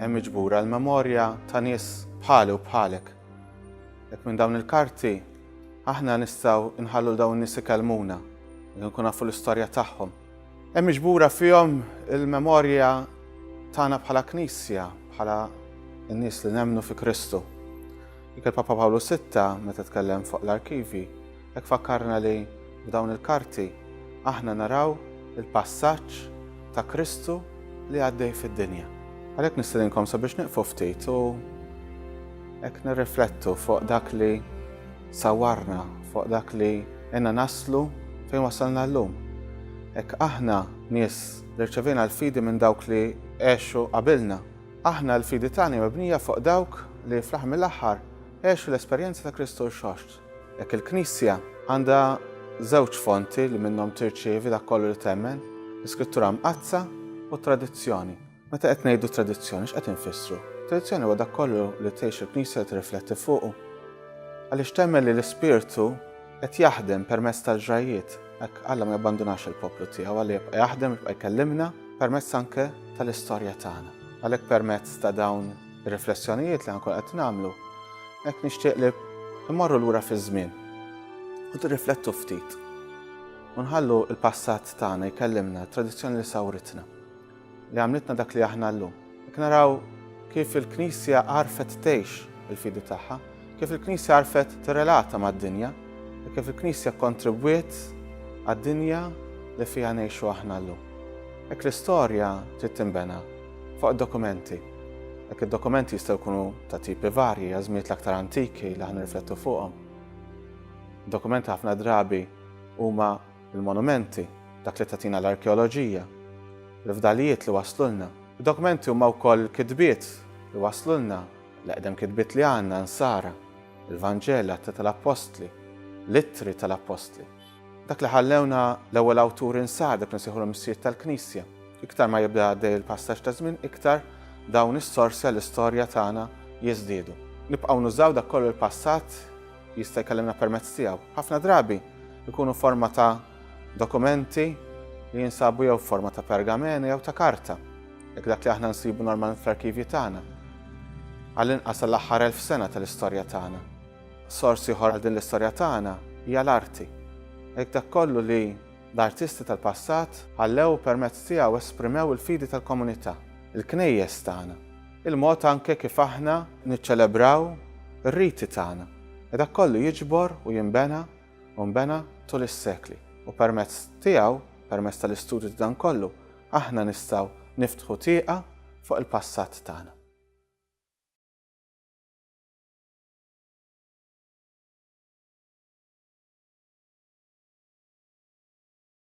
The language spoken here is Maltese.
Hemm miġbura l-memorja ta' nies bħali u bħalek. Hekk minn dawn il-karti aħna nistgħu nħallu l dawn in-nies ikellmuna, li nkun nafu l-istorja tagħhom. Hemm miġbura fihom il-memorja tagħna bħala Knisja, bħala n-nies li nemmnu fi Kristu. Dik il-Papa Pawlu Sitta meta tkellem fuq l-arkivi Hekk fakkarna li f'dawn il-karti aħna naraw il-passaġġ ta' Kristu li għaddej fid-dinja. Għalhekk nistedinkom sabiex nieqfu ftit u hekk nirriflettu fuq dak li sawwarna, fuq dak li għenna naslu fejn wasalna llum. Hekk aħna nies li rċevejna l-fidi minn dawk li għexu qabilna. Aħna l-fidi tagħna hija mibnija fuq dawk li fl-aħħar mill-aħħar għexu l-esperjenza ta' Kristu Rxoxt. Hekk il-Knisja għandha żewġ fonti li minnhom tirċievi dak kollu li temmen, l-Iskrittura Mqaddsa u t-tradizzjoni. Meta qed ngħidu tradizzjoni x'qed infissru? Tradizzjoni huwa dak kollu li tgħix il-Knisja li tirrifletti fuqu. Għaliex temmen li l-Ispirtu qed jaħdem permezz tal-ġrajjiet, hekk Alla ma jabbandunax il-poplu tiegħu, Alla jibqa' jaħdem, jibqa' jkellimna permezz anke tal-istorja tagħna. Għalhekk permezz ta' dawn Ir-riflessjonijiet li ħankun qed nagħmlu hekk nixtieq li mmorru lura fiż-żmien u tirriflettu ftit u nħallu l-passat tagħna jkellimna, tradizzjoni li sawritna, li għamlitna dak li aħna llum. Jekk naraw kif il-Knisja għarfet tgħix il-fidi tagħha, Kif il-Knisja għarfet tirrelata mad-dinja u kif il-Knisja kkontribwiet għad-dinja li fiha ngħixu aħna llum. Hekk l-istorja trid tinbena fuq id-dokumenti. Hekk id-dokumenti jistgħu jkunu ta' tipi varji, għażmiet l-aktar antiki li ħan nirriflettu fuqhom. Dokumenti ħafna drabi huma l-monumenti, dak li tatina l-arkeoloġija, l-fdalijiet li waslulna. Id-dokumenti huma wkoll kitbiet li waslulna L-eqdem kitbiet li għandna, Nsara, il-Vanġel, Atti tal-Appostli, l-Ittri tal-Appostli. Dak li ħallewna l-ewwel awturi Nsara, dak li nsejħulhom is-Sjied tal-Knisja. Iktar ma jibda għaddej il-passaġġ ta' żmien, iktar dawn is-sorsi għall-istorja tagħna jiżdiedu. Nibqgħu nużaw dak kollu li l-passat jista' jkellimna permezz tiegħu. Ħafna drabi jkunu f'forma ta' dokumenti li jinsabu jew f'forma ta' pergamena jew ta' karta. Jekk dak li aħna nsibu normalment fl-arkivji tagħna, għall-inqas għall-aħħar elf sena tal-istorja tagħna, sors ieħor għal din l-istorja tagħna hija l-arti. Jekk dak kollu li l-artisti tal-passat ħallew u permezz tiegħu esprimew il-fidi tal-komunità, il-knejjes tagħna, il-mod anke kif aħna niċċelebraw ir-riti tagħna, e dak kollu jiġbor u jinbena u nbena tul is-sekli u permezz tiegħu, permezz tal-istudju ta' dan kollu, Aħna nistgħu niftħu tieqa fuq il-passat tagħna.